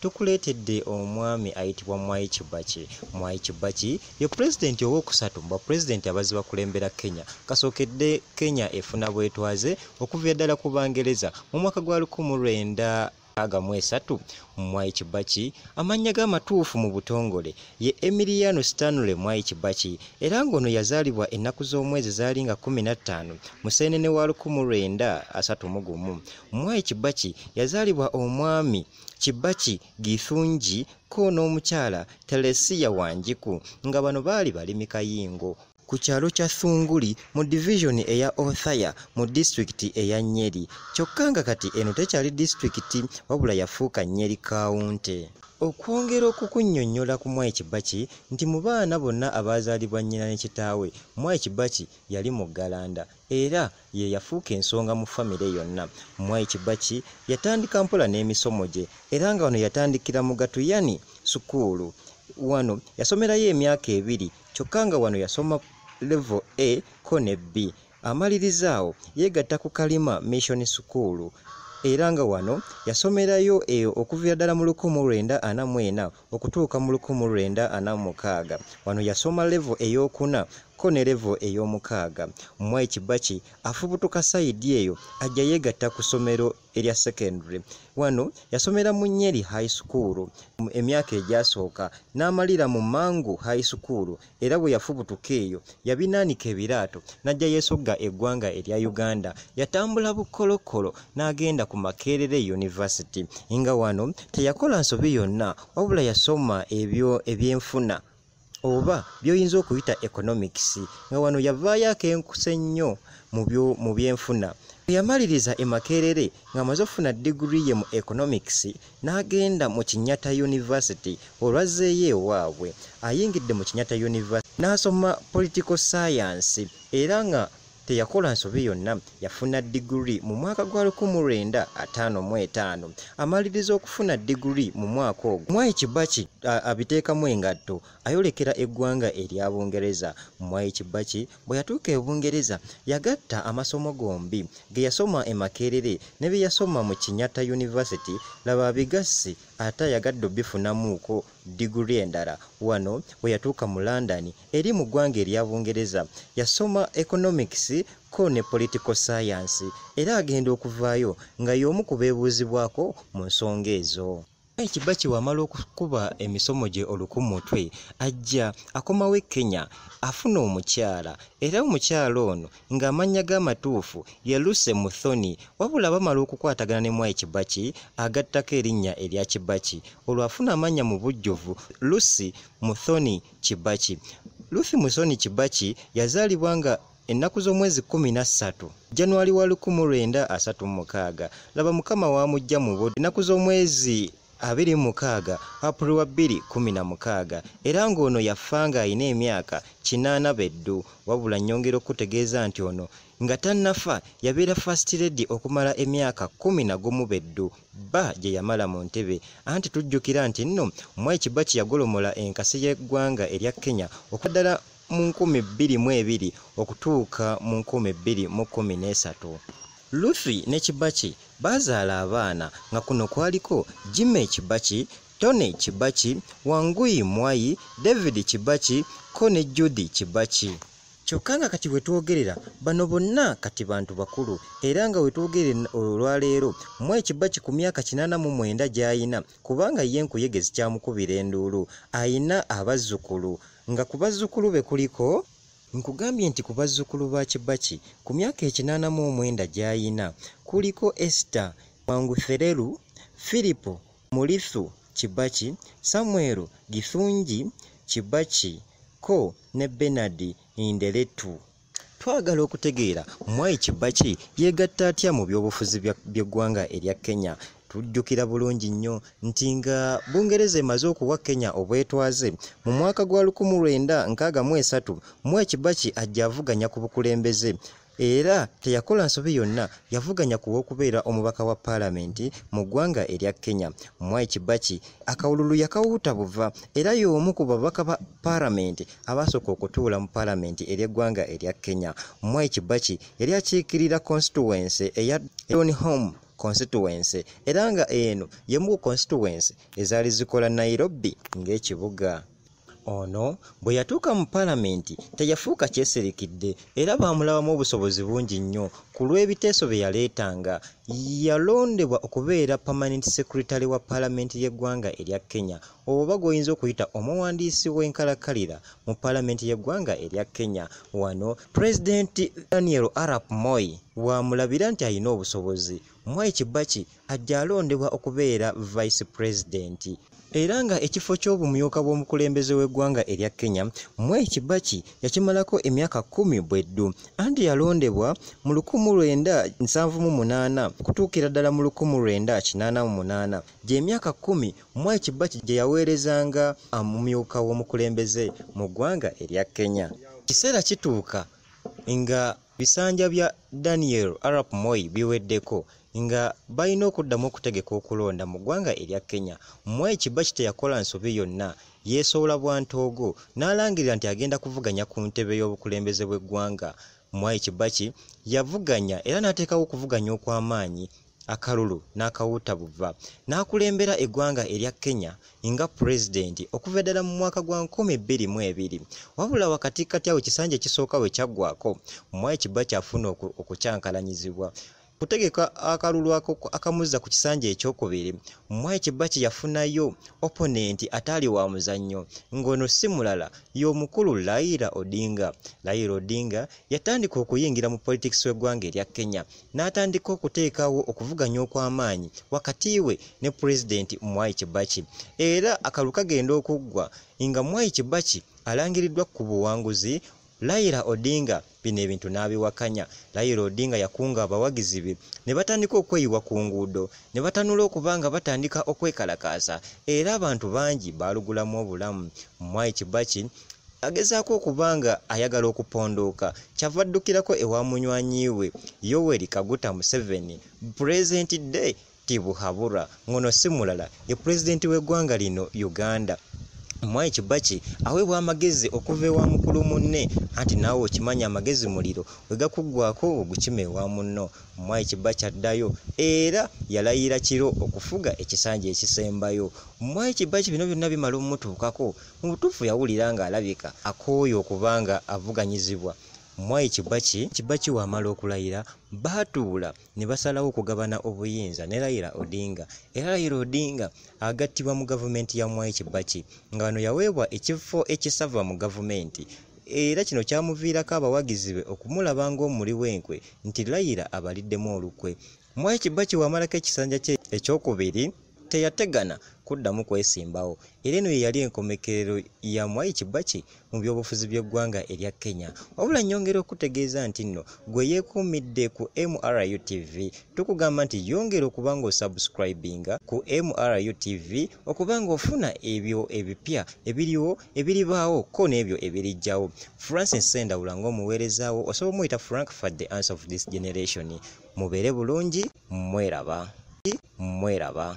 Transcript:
Tukuleetedde omwami ayitibwa Mwai Kibaki. Mwai Kibaki ye pulezidenti owookusatu mu bapulezidenti abazze bakulembera Kenya. Kasookedde Kenya efuna bwetwaze okuviira ddala ku Bangereza mu mwaka gwa lukumu lwenda aga mu esatu. Mwai Kibaki amannya ge amatuufu mu butongole ye Emiliano Stanley Mwai Kibaki era ng'ono yazaalibwa ennaku z'omwezi zaali nga kkumi na ttaano Museenene wa lukumu lwenda asatu mu gumu. Mwai Kibaki yazaalibwa omwami Kibaki Githungi ko n'omukyala Telesia Wanjiku nga bano baali balimi kayingo ku kyalo kya Thunguli mu divizoni eya Othaya mu disitulikiti eya Nyeri kyokka nga kati eno tekyali disitulikiti wabula yafuuka Nyeri kaawunte. Okwongera okukunnyonnyola ku Mwai Kibaki nti mu baana bonna abaazaalibwa nnyina ne kitaawe, Mwai Kibaki yali muggalanda. era ye yafuuka ensonga mu famire yonna. Mwai Kibaki yatandika mpola n'emisomo gye era nga wano yatandikira mu Gatuyani sukuulu. Wano yasomerayo emyaka ebiri kyokka nga wano yasoma levo A ko ne B. Amaliriza awo yeegatta ku Kalima Mission School era nga wano yasomerayo eyo okuviira ddala mu lukumi mu lwenda ana mu ena. okutuuka mu lukumi lwenda ana mu mukaaga. Wano yasoma levo ey'okuna ko ne levo ey'omukaaga. Mwai Kibaki afubutuka sayidi eyo ajja yeegatta ku ssomero erya secondary. Wano yasomera mu Nyeri High School emyaka egyasooka n'amalira mu Mangu High School era bwe yafubutuka eyo yabinaanika ebiraato n'ajja yeesogga eggwanga erya uganda yatambula bukkolokolo n'agenda ku makerere yunivasiti nga wano teyakola nsobi yonna wabula yasoma ebyo ebyenfuna oba by'oyinza okuyita economics nga wano yavaayo akenkuse nnyo mu byenfuna bwe yamaliriza e makerere ng'amaze okufuna diguli ye mu economics n'agenda mu Kinyata University olwazzeeyo ewaabwe ayingidde mu Kinyata University n'asoma political science era nga teyakola nsobi yonna yafuna diguli mu mwaka gwa 1955 amaliriza okufuna diguli mu mwaka ogwo mwai kibaki abiteekamu engatto ayolekera eggwanga erya bungereza mwai kibaki Bwe yatuuka e Bungereza, yagatta amasomo gombi ge yasoma e Makerere ne bye yasoma mu Kinyatta University, laba abigassi ate ayagadde obifunamuuko diguli endala. Wano bwe yatuuka mu London eri mu ggwanga erya Bungereza, yasoma Economics ko ne Political Science era agenda okuvaayo nga y'omu ku beebuuzibwako mu nsonga ezo. Naye Kibaki wamala okukuba emisomo gye oluku mutwe ajja akomawo e Kenya afuna omukyala era omukyala ono ng'amannya ge amatuufu ye Lucy Muthoni wabula bamala okukwatagana ne Mwai Kibaki agattako erinnya erya Kibaki olwo afuna amannya mu bujjuvu Lucy Muthoni Kibaki. Lucy Muthoni Kibaki yazaalibwa nga ennaku z'omwezi kkumi na ssatu januwali wa lukumu lwenda asatu mu mukaaga laba mukama waamujja mu budde ennaku z'omwezi abiri mu mukaaga apuli wa bbiri kkumi na mukaaga era ng'ono yafa ng'alina emyaka kinaana beddu wabula nnyongera okukutegeeza nti ono nga tannafa yabeera fast lady okumala emyaka kkumi na gumu beddu bba gye yamala mu ntebe anti tujjukira nti nno mwai kibaki yagolomola enkasi y'eggwanga erya kenya okwaddala mu nkumi bbiri mu ebiri okutuuka mu nkumi bbiri mu kkumi n'esatu luthi ne kibaki baazaala abaana nga kuno kwaliko jime kibaki tony kibaki wanguyi mwayi david kibaki ko ne judi kibaki kyokka nga kati wetwogerera bano bonna kati bantu bakulu era nga wetwogerera olwaleero mu ekiba ki ku myaka kinaana mu mwenda gy'ayina kubanga ye nkuyege zikyamukubira enduulu ayina abazzukulu Nga ku bazzukulu be kuliko. Nkugambye nti ku bazzukulu ba Kibaki ku myaka ekinaana mu omwenda gy'ayina kuliko Esther Mwangutherelu, Firipo Mulithu Kibaki, Samuel Githungi Kibaki ko ne Bernard Ndeletu. Twagala okutegeera Mwai Kibaki yeegatta atya mu byobufuzi by'eggwanga erya Kenya. Tujjukira bulungi nnyo nti nga Bungereza emaze okuwa Kenya obwetwaze mu mwaka gwa 1963 Mwai Kibaki ajja avuganya ku bukulembeze era teyakola nsobi yonna yavuganya ku w'okubeera omubaka wa paalamenti mu ggwanga erya Kenya. Mwai Kibaki akawululu yakawuuta buva era y'omu ku babaka ba paalamenti abaasooka okutuula mu paalamenti ery'eggwanga erya kenya mwai kibaki yali akiikirira constituency eya don home constituency era nga eno y'emu ku constituency ezaali zikola nairobi ng'ekibuga Ono bwe yatuuka mu Palamenti teyafuuka kyeserikidde era baamulabamu obusobozi bungi nnyo ku lw'ebiteeso bye yaleetanga. Yalondebwa okubeera Permanent Secretary wa Palamenti y'eggwanga erya Kenya oba gw'oyinza okuyita omuwandiisi w'enkalakkalira mu Palamenti y'eggwanga erya Kenya. Wano Pulezidenti Daniel Arap Moi w'amulabira nti alina obusobozi. Mwai Kibaki ajja alondebwa okubeera vice president era nga ekifo ky'obumyuka bw'omukulembeze w'eggwanga erya kenya mwai kibaki yakimalako emyaka kumi bweddu anti yalondebwa mu lukumu lwenda nsanvu mu munaana okutuukira ddala mu lukumu lwenda kinaana mu munaana gy'emyaka kumi mwai kibaki gye yaweerezanga amumyuka w'omukulembeze mu ggwanga erya kenya kiseera kituuka nga Bisanja bya Daniel Arap Moi biweddeko nga balina okuddamu okutegeka okulonda mu ggwanga erya Kenya. Moi Kibaki teyakola nsobi yonna, yeesoola bwa ntoogo n'alangirira nti agenda kuvuganya ku ntebe y'obukulembeze bw'eggwanga. Mwai Kibaki yavuganya era n'ateekawo okuvuganya okw'amaanyi akalulu n'akawuuta buva n'akulembera eggwanga erya kenya nga pulezidenti okuva ddala mu mwaka gwa 222 wabula wakati kati awo ekisanja ekisooka we kyaggwako mwai kiba kyafuna okukyankalanyizibwa kutegeka akalulu akamuzza ku kisanja ekyokubiri mwai kiba kye yafunayo oponenti ataali wa muzannyo ng'ono si mulala y'omukulu laira odinga laira odinga yatandika okuyingira mu politics w'eggwanga erya kenya n'atandika okuteekawo okuvuganya okw'amaanyi wakati we ne pulezidenti mwai kibaki era akalu kagenda okuggwa nga mwai kibaki alangiriddwa ku buwanguzi layira odinga bino ebintu n'abiwakanya layira odinga yakunga abawagizi be ne batandika okweyiwa ku nguudo ne batanula okuba nga batandika okwekalakaasa era abantu bangi baalugulamu obulamu mwai kibaki agezaako okuba nga ayagala okupondooka kyava addukirako ewa munywanyi we yoweri kaguta museveni pulezidenti de tibuhabura ngono si mulala ye pulezidenti w'eggwanga lino uganda mwai kibaki aweebwa amagezi okuva ewa mukulu munne anti naawe okimanya amagezi muliro wegakuggwako ogukima ewa munno mwai kibaki addayo era yalayira kiro okufuga ekisanja ekisembayo mwai kibaki bino byonna bimala omutuukako Mu butuufu yawulira ng'alabika akooye okuba nga avuganyizibwa. Mwai Kibaki, Kibaki w'amala okulayira, baatuula ne basalawo okugabana obuyinza ne Raila Odinga era Raila Odinga agattibwa mu gavumenti ya Mwai Kibaki nga wano yaweebwa ekifo ekisava mu gavumenti era kino kyamuviirako abawagizi be okumulaba ng'omuli w'enkwe nti Raila abaliddemu olukwe. Mwai Kibaki wamalako ekisanja kye ekyokubiri teyategana kuddamu kwesimbawo era eno yeyali enkomekerero ya Mwai Kibaki mu byobufuzi by'eggwanga erya Kenya. Wabula nyongera okutegeeza nti nno gwe yeekuumidde ku MRU TV tukugamba nti yongera okuba ng'osubscribinga ku MRU TV okuba ng'ofuna ebyo ebipya ebiriwo ebiribaawo ko n'ebyo ebirijjawo francis sendawula ng'omuweerezaawo osobola omuyita frank fat the answer of this generation mubeere bulungi mweraba mweraba